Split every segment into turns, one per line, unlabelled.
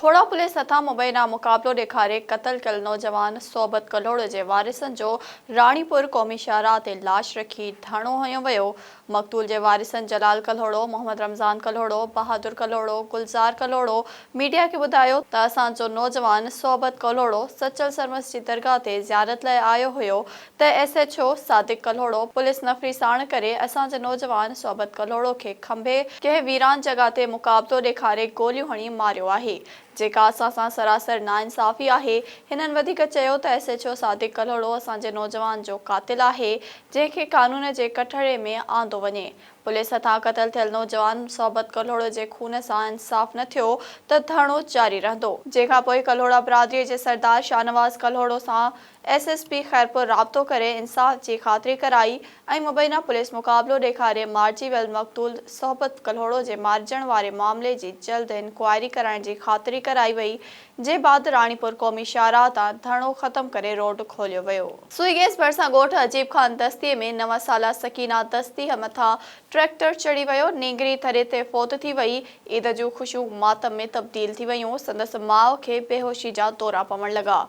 Khuhra police هٿان مبينا مقابلو ڏيکاري قتل ڪيل نوجوان صحبت ڪلهوڙو جي وارثن جو راڻيپور قومي شاهراهه تي لاش رکي ڌرڻو هنيو ويو، مقتول جي وارثن جلال ڪلهوڙو، محمد رمضان ڪلهوڙو، بهادر ڪلهوڙو، گلزار ڪلهوڙو ميڊيا کي ٻڌايو ته اسان جو نوجوان صحبت ڪلهوڙو سچل سرمست جي درگاهه تي زيارت لاء آيو هيو ته S H O Sadiq Kalhoro police نفري ساڻ ڪري اسان جي نوجوان صحبت ڪلهوڙو کي کنڀي ڪنهن ويران جڳهه تي مقابلو ڏيکاري گوليون هڻي ماريو آهي جيڪا اسان سان سراسر ناانصافي آهي هنن وڌيڪ چيو ته S H O Sadiq Kalhoro اسان جي نوجوان جو قاتل آهي جنهن کي قانون جي ڪٽهڙي ۾ آندو وڃي. پوليس هٿان قتل ٿيل نوجوان صحبت ڪلهوڙو جي خون سان انصاف نه ٿيو ته ڌرڻو جاري رهندو. جنهن کان پوء ڪلهوڙا برادري جي سردار شاهنواز ڪلهوڙو سان ايس ايس پي خيرپور رابطو ڪري انصاف جي خاطري ڪرائي ۽ مبينا پوليس مقابلو ڏيکاري مارجي ويل مقتول صحبت ڪلهوڙو جي مارجڻ واري معاملي جي جلد انڪوائري ڪرائڻ جي خاطري ڪرائي وئي جي بعد راڻيپور قومي شاهراهه تان ڌرڻو ختم ڪري روڊ کوليو ويو. سوئي گيس ڀرسان ڳوٺ عجيب خان دستي ۾ نو سالا سڪينه دستيء مٿان ٽريڪٽر چڙهي ويو، نينگري ٿري تي فوت ٿي وئي، عيد جون خوشيون ماتم ۾ تبديل ٿي ويون، سندس ماء کي بيهوشي جا دورا پوڻ لڳا.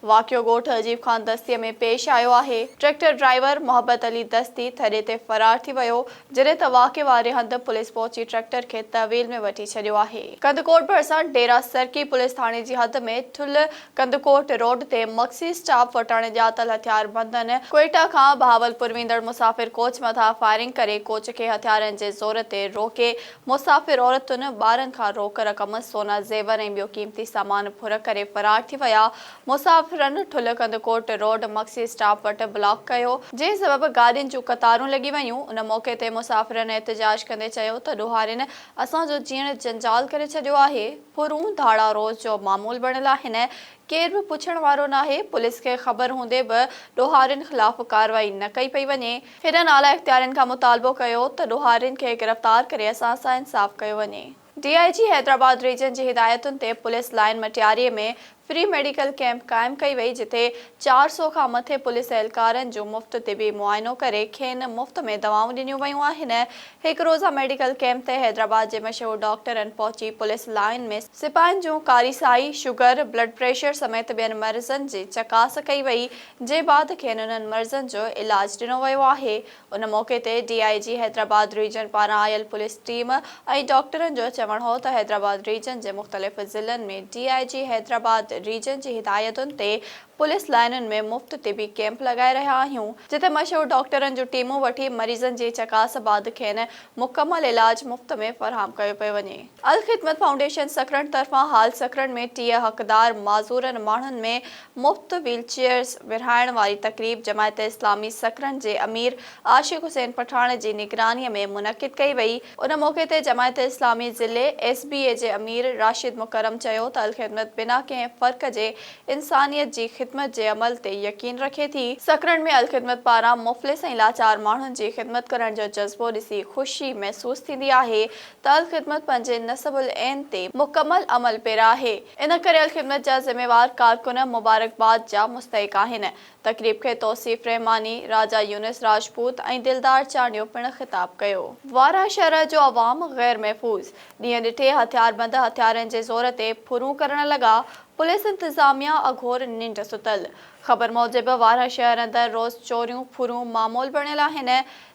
واقعو ڳوٺ عجيب خان دستي ۾ پيش آيو آهي، ٽريڪٽر ڊرائيور محبت علي دستي ٿڏي تي فرار ٿي ويو، جڏهن ته واقعي واري هنڌ پوليس پهچي ٽريڪٽر کي تحويل ۾ وٺي ڇڏيو آهي. ڪنڌڪوٽ ڀرسان ڊيرا سرڪي پوليس ٿاڻي جي حد ۾ ٺل ڪنڌڪوٽ روڊ تي مگسي اسٽاپ وٽان ڄاتل هٿياربندن ڪوئيٽا کان بهاولپور ويندڙ مسافر ڪوچ مٿان فائرنگ ڪري ڪوچ کي هٿيارن جي زور تي روڪي مسافر عورتن، ٻارن کان روڪ رقم، سونا زيور ۽ ٻيو قيمتي سامان ڦر ڪري فرار ٿي ويا، مسافرن ٺل ڪنڌڪوٽ روڊ مگسي اسٽاپ وٽ بلاڪ ڪيو، جنهن سبب گاڏين جون قطارون لڳي ويون، ان موقعي تي مسافرن احتجاج ڪندي چيو ته ڏوهارين اسان جو جيئڻ جنجال ڪري ڇڏيو آهي، ڦرون ڌاڙا روز جو معمول بڻيل آهن، ڪير به پڇڻ وارو ناهي، پوليس کي خبر هوندي به ڏوهارين خلاف ڪارروائي نه ڪئي پئي وڃي، هنن اعليٰ اختيارين کان مطالبو ڪيو ته ڏوهارين کي گرفتار ڪري اسان سان انصاف ڪيو وڃي. D I G Hyderabad region جي هدايتن تي police line Matiari ۾ free medical camp قائم ڪئي وئي جتي چار سؤ کان مٿي پوليس اهلڪارن جو مفت طبي معائنو ڪري کين مفت ۾ دوائون ڏنيون ويون آهن هڪ روزه ميڊيڪل ڪيمپ تي حيدرآباد جي مشهور ڊاڪٽرن پهچي پوليس لائين ۾ سپاهين جون ڪاري سائي، شگر، بلڊ پريشر سميت ٻين مرضن جي چڪاس ڪئي وئي جي بعد کين انهن مرضن جو علاج ڏنو ويو آهي ان موقعي تي D I G Hyderabad region پاران آيل پوليس ٽيم ۽ ڊاڪٽرن جو چوڻ هو ته حيدرآباد ريجن جي مختلف ضلعن ۾ D I G Hyderabad region جي هدايتن تي پوليس لائينن ۾ مفت طبي ڪيمپ لڳائي رهيا آهيون جتي مشهور ڊاڪٽرن جون ٽيمون وٺي مريضن جي چڪاس بعد کين مڪمل علاج مفت ۾ فراهم ڪيو پيو وڃي. الخدمت فائونڊيشن سکرن طرفان حال سکرن ۾ ٽيهه حقدار معذورن ماڻهن ۾ مفت ويل چيئرز ورهائڻ واري تقريب جماعت اسلامي سڪرنڊ جي امير عاشق حسين پٺاڻ جي نگراني ۾ منعقد ڪئي وئي، ان موقعي تي جماعت اسلامي ضلعي ايس بي اي جي امير راشد مڪرم چيو ته الخدمت بنا ڪنهن فرق جي انسانيت جي خدمت جي عمل تي يقين رکي ٿي، سڪرنڊ ۾ الخدمت پاران مفلس ۽ لاچار ماڻهن جي خدمت ڪرڻ جو جذبو ڏسي خوشي محسوس ٿيندي آهي ته الخدمت پنهنجي نصب العين تي مڪمل عمل پيرا آهي. ان ڪريل خدمت جا ذميوار ڪارڪن مبارڪباد جا مستحق آهن. تقريب کي توصيف رحماني، راجا يونس راجپوت ۽ دلدار چانڊيو پڻ خطاب ڪيو. وارهه شهر جو عوام غير محفوظ، ڏينهن ڏٺي هٿياربند هٿيارن جي زور تي ڦرون ڪرڻ لڳا، پوليس انتظاميا اگهور ننڊ ستل. خبر موجب وارهه شهر اندر روز چوريون ڦرون معمول بڻيل آهن،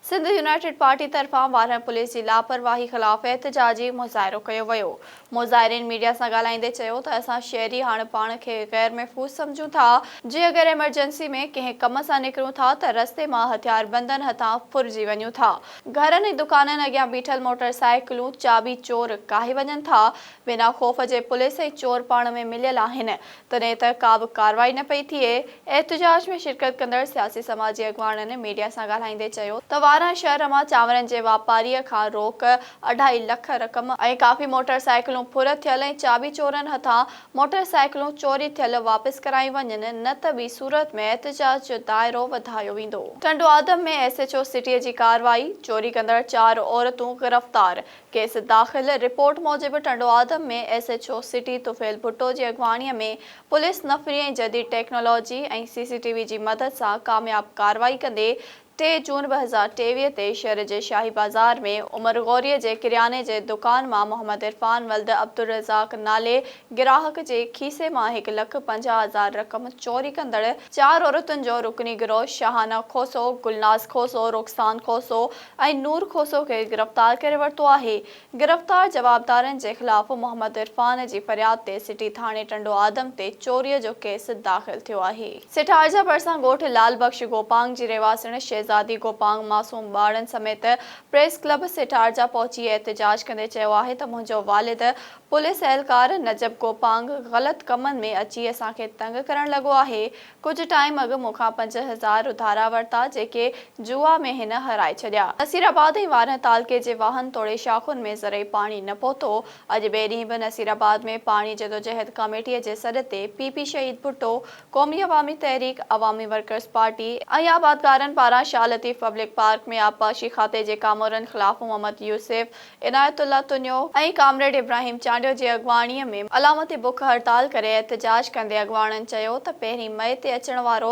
سنڌ يونائيٽيڊ پارٽي طرفان وارهن پوليس جي لاپرواهي خلاف احتجاجي مظاهرو ڪيو ويو. مظاهرين ميڊيا سان ڳالهائيندي چيو ته اسان شهري هاڻ پاڻ کي غير محفوظ سمجهون ٿا، جي اگر ايمرجنسي ۾ ڪنهن ڪم سان نڪرون ٿا ته رستي مان هٿياربندن هٿان ڦرجي وڃون ٿا، گهرن ۽ دڪانن اڳيان بيٺل موٽر سائيڪلون چاٻي چور ڪاهي وڃن ٿا، بنا خوف جي پوليس ۽ چور پاڻ ۾ مليل آهن، تڏهن ته ڪا به ڪارروائي نه پئي ٿئي. احتجاج ۾ شرڪت ڪندڙ سياسي سماجي اڳواڻن ميڊيا سان ڳالهائيندي چيو ته واران شهر مان چانورن جي واپاريء کان روڪ، اڍائي لک رقم ۽ ڪافي موٽر سائيڪلون ڦر ٿيل ۽ چاٻي چورن هٿان موٽر سائيڪلون چوري ٿيل واپس ڪرايون وڃن نه ته ٻي صورت ۾ احتجاج جو دائرو وڌايو ويندو. ٽنڊوآدم ۾ ايس ايڇ او سٽيء جي ڪارروائي، چوري ڪندڙ چار عورتون گرفتار، ڪيس داخل رپورٽ موجب Tando Adam ۾ S H O city Tufail Bhutto جي اڳواڻي ۾ پوليس نفري ۽ جديد technology ۽ C C T V جي مدد سان ڪامياب ڪارروائي ڪندي ٽي جون ٻه هزار ٽيويهه تي شھر جي شاهي بازار ۾ عمر غوري جي ڪرياني جي دڪان مان محمد عرفان ولد عبدالرزاق نالي گراهڪ جي کيسي مان هڪ لک پنجاهه هزار رقم چوري ڪندڙ چار عورتن جو رڪني گروھ شاهانه کوسو، گلناز کوسو، رخسان کوسو، ۽ نور کوسو کي گرفتار ڪري ورتو آهي، گرفتار جوابدارن جي خلاف محمد عرفان جي فرياد تي سٽي ٿاڻي ٽنڊو آدم تي چوري جو ڪيس داخل ٿيو آهي. سيٺارجا ڀرسان ڳوٺ لعل بخش گوپانگ جي رهواسڻ شهزادي گوپانگ معصوم ٻارڙن سميت پريس ڪلب سيٺارجا پهچي احتجاج ڪندي چيو آهي ته منهنجو والد پوليس اهلڪار نجب گوپانگ غلط ڪمن ۾ اچي اسان کي تنگ ڪرڻ لڳو آهي ڪجهه ٽائيم اڳ مون کان پنج هزار اڌارا ورتا، جيڪي جوئا ۾ هن هارائي ڇڏيا. نصير آباد ۽ وارنهه تعلقي جي واهن توڙي شاخن ۾ زرعي پاڻي نه پهتو. اڄ ٻئي ڏينهن به نصير آباد ۾ پاڻي جدوجهد ڪاميٽيء جي سڏ تي P P Shaheed Bhutto, Qaumi Awami Tehreek, Awami workers party, ۽ آبادگارن پاران شاهه لطيف پبلڪ پارڪ ۾ آبپاشي کاتي جي ڪامورن خلاف محمد يوسف، عنايت الله تنيو ۽ ڪامريڊ ابراهيم چانڊيو جي اڳواڻي ۾ علامتي بک هڙتال ڪري احتجاج ڪندي اڳواڻن چيو ته پهرين مئي تي اچڻ وارو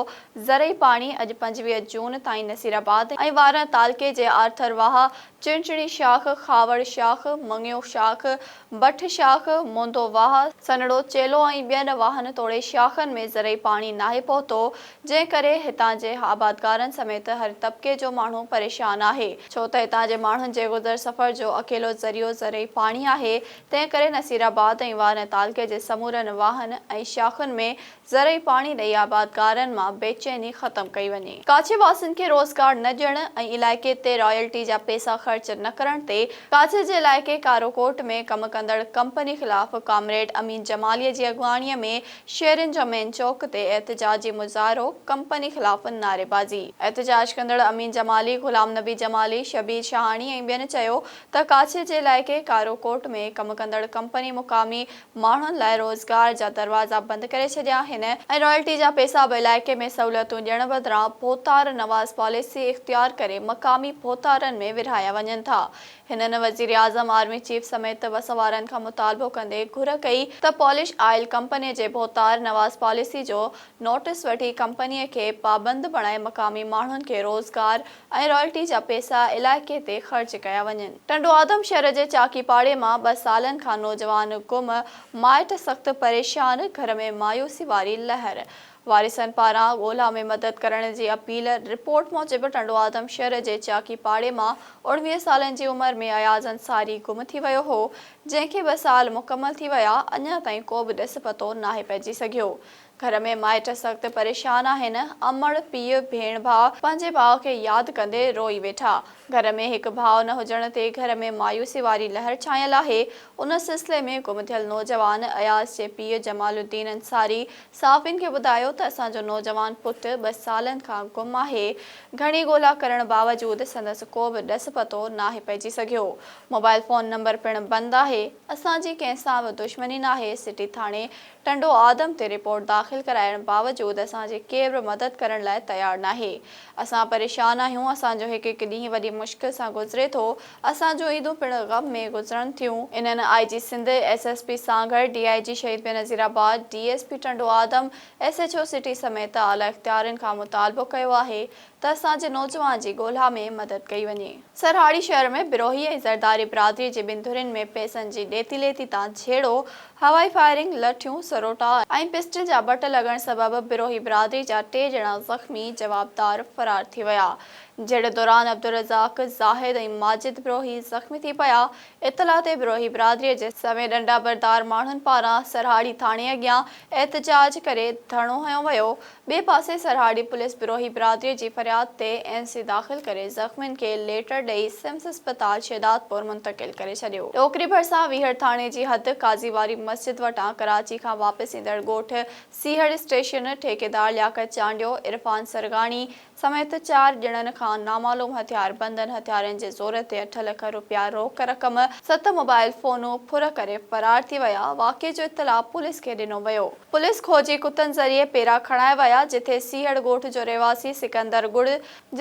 زرعي پاڻي اڄ پنجويهه جون تائين نصيرآباد ۽ وارڻ تعلقي جي آرٿر واهه، چڻچڻي شاخ، خاوڙ شاخ، مڱيو شاخ، بٺ شاخ، موندو واهه، سنڙو چيلو ۽ ٻين واهن توڙي شاخن ۾ زرعي پاڻي ناهي پهتو جنهن ڪري هتان جي آبادگارن سميت هر طبقي جو ماڻهو پريشان آهي، ڇو ته هتان جي ماڻهن جي گذر سفر جو اڪيلو ذريعو زرعي پاڻي آهي، تنهن ڪري نصيرآباد ۽ وارنه تعلقي جي سمورن واهن ۽ شاخن ۾ زرعي پاڻي ڏئي آبادگارن مان بيچيني ختم ڪئي وڃي. ڪاڇي واسين کي روزگار نه ڏيڻ ۽ علائقي تي رائلٽي جا پئسا خرچ نه ڪرڻ تي ڪاڇي جي علائقي ڪاروڪوٽ ۾ ڪم ڪندڙ ڪمپني خلاف ڪامريڊ امين جمالي جي اڳواڻي ۾ شهرين جا مين چوڪ تي احتجاجي مظاهرو، ڪمپني خلاف نعريبازي. احتجاج ڪندڙ امين جمالي، غلام نبي جمالي، شبير شاهاڻي ۽ ٻين چيو ته ڪاڇي جي علائقي ڪارو ڪوٽ ۾ ڪم ڪندڙ ڪمپني مقامي ماڻهن لاء روزگار جا دروازا بند ڪري ڇڏيا آهن ۽ رائلٽي جا پئسا به علائقي ۾ سهولتون ڏيڻ بدران ڀوتار نواز پاليسي اختيار ڪري مقامي ڀوتارن ۾ ورهايا وڃن ٿا هنن وزيراعظم، آرمي چيف سميت وسوارن کان مطالبو ڪندي گهر ڪئي ته پولش آئل ڪمپني جي ڀوتار نواز پاليسي جو نوٽس وٺي ڪمپنيء کي پابند بڻائي مقامي ماڻهن کي روزگار ۽ رائلٽي جا پيسا علائقي تي خرچ ڪيا وڃن. ٽنڊوآدم شهر جي چاڪي پاڙي مان ٻه سالن کان نوجوان گم، مائٽ سخت پريشان، گهر ۾ مايوسي واري لهر، وارثن پاران ڳولا ۾ مدد ڪرڻ جي اپيل رپورٽ موجب ٽنڊوآدم شھر جي چاڪي پاڙي مان اوڻويهه سالن جي عمر ۾ اياز انصاري گم ٿي ويو هو جنهن کي ٻه سال مڪمل ٿي ويا اڃا تائين ڪو به ڏس پتو ناهي پئجي سگهيو گهر ۾ مائٽ سخت پريشان آهن امڙ پيء ڀيڻ ڀاء پنهنجي ڀاء کي ياد ڪندي روئي ويٺا گهر ۾ هڪ ڀاء نه هجڻ تي گهر ۾ مايوسي واري لهر ڇانيل آهي ان سلسلي ۾ گم ٿيل نوجوان اياز جي پيء جمال الدين انصاري صحافين کي ٻڌايو ته اسان جو نوجوان پٽ ٻه سالن کان گم آهي، گهڻي ڳولا ڪرڻ باوجود سندس ڪو به ڏس پتو ناهي پئجي سگهيو، موبائل فون نمبر پڻ بند آهي، اسان جي ڪنهن سان به دشمني ناهي، سٽي ٿاڻي ٽنڊو آدم تي رپورٽ داخل ڪرائڻ باوجود اسان جي ڪير به مدد ڪرڻ لاء تيار ناهي، اسان پريشان آهيون، اسان جو هڪ هڪ ڏينهن وڏي مشڪل سان گذري ٿو، اسان جون عيدون پڻ غم ۾ گذرن ٿيون. انهن I G Sindh, S S P Sanghar, D I G Shaheed Benazirabad, D S P Tando Adam, S H O city سميت اعليٰ اختيارين کان مطالبو ڪيو آهي ته اسان جي نوجوان جي ڳولها ۾ مدد ڪئي وڃي. سرهاڙي شهر ۾ بروهي ۽ زرداري برادري جي ٻن ڌرين ۾ پئسن جي ڏيتي ليتي تان جهيڙو، هوائي فائرنگ، لٺيون، سروٽا ۽ پسٽل جا بٽ لڳڻ سبب بروهي برادري جا ٽي ڄڻا زخمي، جوابدار فرار ٿي ويا. جهيڙي دوران عبدالرزاق، زاهد ۽ ماجد بروهي زخمي ٿي پيا، اطلاع تي بروهي برادري جي سوين ڏنڊا بردار ماڻهن پاران سرهاڙي ٿاڻي اڳيان احتجاج ڪري ڌرڻو هنيو ويو، ٻئي پاسي سرهاڙي پوليس بروهي برادري جي فرياد تي اين سي داخل ڪري زخمين کي ليٽر ڏئي سمس اسپتال شهدادپور منتقل ڪري ڇڏيو. ٽوڪري ڀرسان ويهڙ ٿاڻي جي حد قاضي واري مسجد وٽان ڪراچي کان واپس ايندڙ ڳوٺ سيهڙ اسٽيشن ٺيڪيدار لياقت چانڊيو، عرفان سرگاڻي، سميت چار ڄڻن کان نامعلوم هٿياربندن هٿيارين جي زور تي اٺ لک رپيا روڪ رقم، ست موبائل فونون ڦر ڪري فرار ٿي ويا، واقعي جو اطلاع پوليس کي ڏنو ويو، پوليس کوجي ڪتن ذريعي پيرا کڻائي ويا، جتي سيهڙ ڳوٺ جو رهواسي سڪندر ڳڙ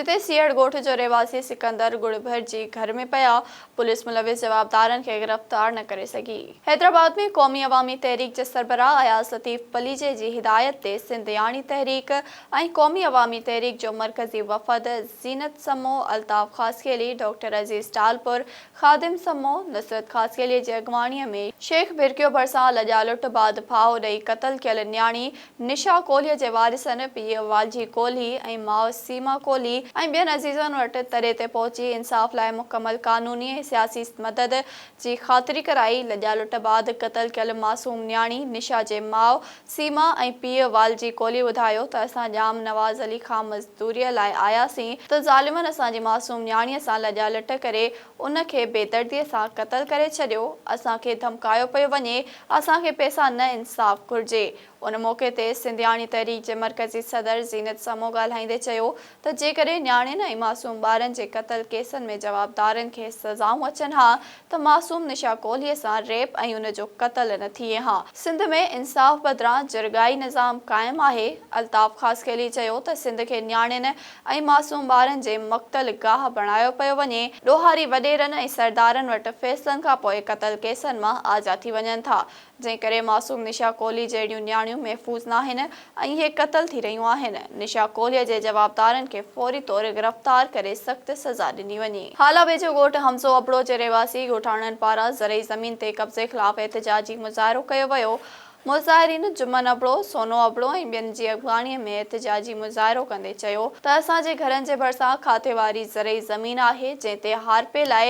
جتي سيهڙ ڳوٺ جو رهواسي سڪندر ڳڙ ڀرجي گهر ۾ پيا، پوليس ملوث جوابدارن کي گرفتار نه ڪري سگهي. حيدرآباد ۾ قومي عوامي تحريڪ جي سربراهه اياز لطيف پليجي جي هدايت تي سنڌ ياڻي تحريڪ ۽ قومي عوامي تحريڪ جو مرڪزي وفد زينت سمون، الطاف خاصخيلي، ڊاڪٽر عزيز ٽالپر، خادم سمون، نصرت خاصخيلي جي اڳواڻي ۾ شيخ ڀرڪيو ڀرسان لڄالٽ بعد ڦاهو ڏئي قتل ڪيل نياڻي نشا ڪولهيء جي وارثن، پيء والجي ڪولهي ۽ ماء سيما ڪولهي ۽ ٻين عزيزن وٽ تري تي پهچي انصاف لاء مڪمل قانوني ۽ سياسي مدد جي خاطري ڪرائي. لڄا لٽ بعد قتل ڪيل معصوم نياڻي نشا جي ماء سيما ۽ پيء والجي ڪولهي ٻڌايو ته اسان ڄام نواز علي خان مزدوريء لاء آياسين ته ظالمن اسان جي معصوم نياڻيء سان لڄا لٽ ڪري ان کي بيدرديء سان قتل ڪري ڇڏيو، اسان کي ڌمڪايو پيو وڃي، اسان کي پئسا نه انصاف گهرجي. ان موقعي تي سنڌياڻي تحريڪ جي مرڪزي صدر زينت سمون ڳالهائيندي چيو ته جيڪڏهن نياڻين ۽ معصوم ٻارن جي قتل ڪيسن ۾ جوابدارن کي سزائون اچن ها ته معصوم نشا ڪولهي سان ريپ ۽ ان جو قتل نه ٿئي ها. سنڌ ۾ انصاف بدران جرڳائي نظام قائم آهي، الطاف خاصخيلي چيو ته سنڌ کي نياڻين ۽ معصوم ٻارن جي مقتل گاهه بڻايو پيو وڃي، ڏوهاري وڏيرن ۽ سردارن وٽ فيصلن کان پوء قتل ڪيسن مان آجا ٿي وڃن ٿا، جنهن ڪري معصوم نشا ڪولهي جهڙيون نياڻيون محفوظ ناهن ۽ اهي قتل ٿي رهيون آهن، نشا ڪولهي جي جوابدارن کي فوري طور گرفتار ڪري سخت سزا ڏني وڃي. هالا ويجهو ڳوٺ حمزو ابڙو جي رهواسي ڳوٺاڻن پاران زرعي زمين تي قبضي خلاف احتجاجي مظاهرو ڪيو ويو، مظاهرين جمن ابڙو، سونو ابڙو ۽ ٻين جي اڳواڻي ۾ احتجاجي مظاهرو ڪندي چيو ته اسان جي گهرن جي ڀرسان کاتي واري زرعي زمين آهي جنهن تي هارپي لاء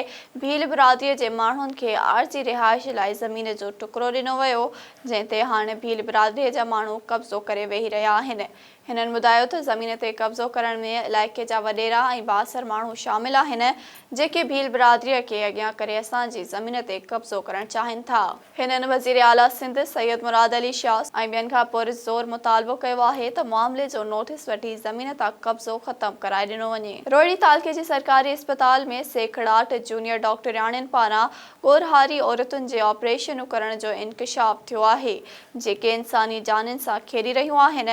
ڀيل برادري جي ماڻهن کي عارضي رهائش لاء زمين جو ٽڪرو ڏنو ويو جنهن تي هاڻ ڀيل برادري جا ماڻهو قبضو ڪري ويهي رهيا آهن هنن ٻڌايو ته زمين تي قبضو ڪرڻ ۾ علائقي جا وڏيرا ۽ بااثر ماڻهو شامل آهن، جيڪي ڀيل برادري کي اڳيان ڪري اسان جي زمين تي قبضو ڪرڻ چاهين ٿا. هنن وزير اعليٰ سنڌ سيد مراد علي شاهه ۽ ٻين کان پرزور مطالبو ڪيو آهي ته معاملي جو نوٽيس وٺي زمين تان قبضو ختم ڪرائي ڏنو وڃي. روهڙي تعلقي جي سرڪاري اسپتال ۾ سيکڙاٽ جونيئر ڊاڪٽرياڻين پاران ڳورهاري عورتن جي آپريشنون ڪرڻ جو انڪشاف ٿيو آهي، جيڪي انساني جانين سان کيڏي رهيون آهن،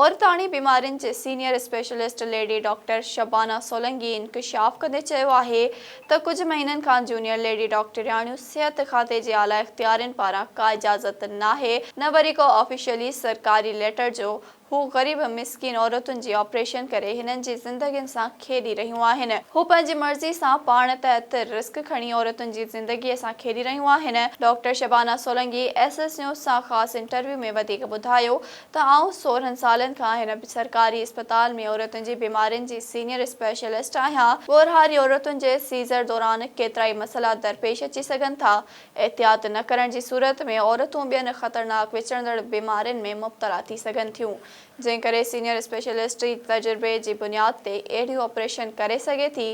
عورتاڻي بيمارين جي senior specialist lady doctor Shabana Solangi انڪشاف ڪندي چيو آهي ته ڪجهه مهينن کان جونيئر ليڊي ڊاڪٽرياڻيون صحت کاتي جي اعليٰ اختيارين پاران ڪا اجازت ناهي نه وري ڪو آفيشلي سرڪاري ليٽر جو هو غريب مسڪين عورتن جي آپريشن ڪري هنن جي زندگين سان کيڏي رهيون آهن. هو پنهنجي مرضي سان پاڻ تحت رسڪ کڻي عورتن جي زندگيء سان کيڏي رهيون آهن. Doctor Shabana Solangi S S news سان خاص انٽرويو ۾ وڌيڪ ٻڌايو ته آئون سورهن سالن کان هن سرڪاري اسپتال ۾ عورتن جي بيمارين جي سينيئر اسپيشلسٽ آهيان. ڳورهاري عورتن جي سيزر دوران ڪيترائي مسئلا درپيش اچي سگهن ٿا. احتياط نه ڪرڻ جي صورت ۾ عورتون ٻين خطرناڪ وچڙندڙ بيمارين ۾ مبتلا ٿي سگهن ٿيون، جنهن ڪري سينيئر اسپيشلسٽ ئي تجربي جي بنياد تي اهڙيون آپريشن ڪري سگهي ٿي،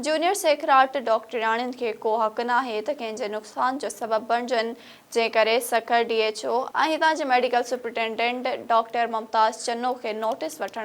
جونيئر سيکراٽ ڊاڪٽرياڻين کي ڪو حق ناهي ته ڪنهن جي نقصان جو سبب بڻجن، جنهن ڪري سکر ڊي ايڇ او ۽ هتان جي medical superintendent doctor Mumtaz Channa کي نوٽيس وٺڻ.